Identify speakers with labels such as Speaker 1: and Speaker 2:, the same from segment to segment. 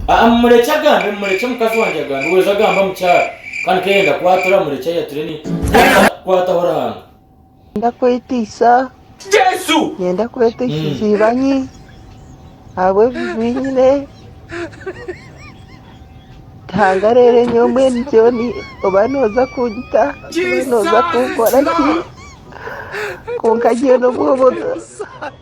Speaker 1: Aa mumurekye agambe mumurekye mukazi wangye agambe weeza agamba mukyara kandi ku yayenda kwatura murekye ayature ni kwonka kwataho Ruhanga. Ninyenda
Speaker 2: kwetiisa Jesu!
Speaker 1: Ninyenda kwetiisa
Speaker 2: iziibanyi ahabw'ebibi nyine. Ruhanga reero nyowe mbwenu John oba nooza kunyita oba nooza kunkora ki kwonka nyowe n'obw'obuto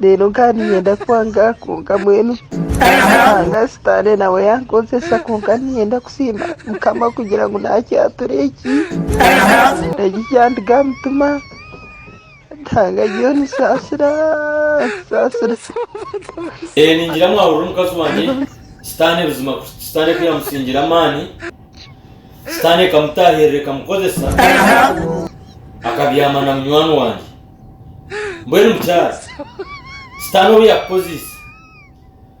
Speaker 2: reero nkaba niinyenda kwanga kwonka mbwenu Ruhanga sitaane nawe yankozesa kwonka niinyenda kusiima Mukama kugira ngu naakyatura eki eki kyandiga aha mutima Ruhanga ariyo nisaasira nsaasira. Ee,
Speaker 1: ningira mwahurira omukazi wangye Sitaane buzima kuhikya Sitaane ku yaamusiingire amaani, Sitaane ekamutaahirira ekamukozesa akabyama na munywani wangye. Mbwenu mukyara, Sitaane obu yaakukoziise,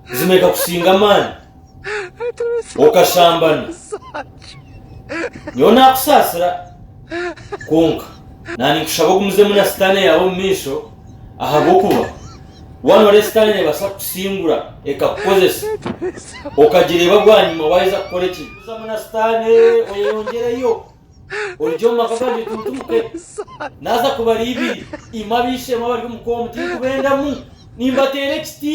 Speaker 1: buzima ekakusinga amaani, okashambana, nyowe naakusaasira, kwonka naaninkushaba ogumizemu na sitaane yaawe omu maisho, ahabw'okuba waaba nooreeba Sitaane neebaasa kukusingura ekakukozesa, okagireeba bwanyima waaheza kukora ekibi. Gumizamu na Sitaane oyeyongyereyo. orugye omu maka gangye tunturuke, naaza kubara ibiri, imwe ab'eishe-emwe abari omu koomu, tinkubendamu, nimbateera ekiti.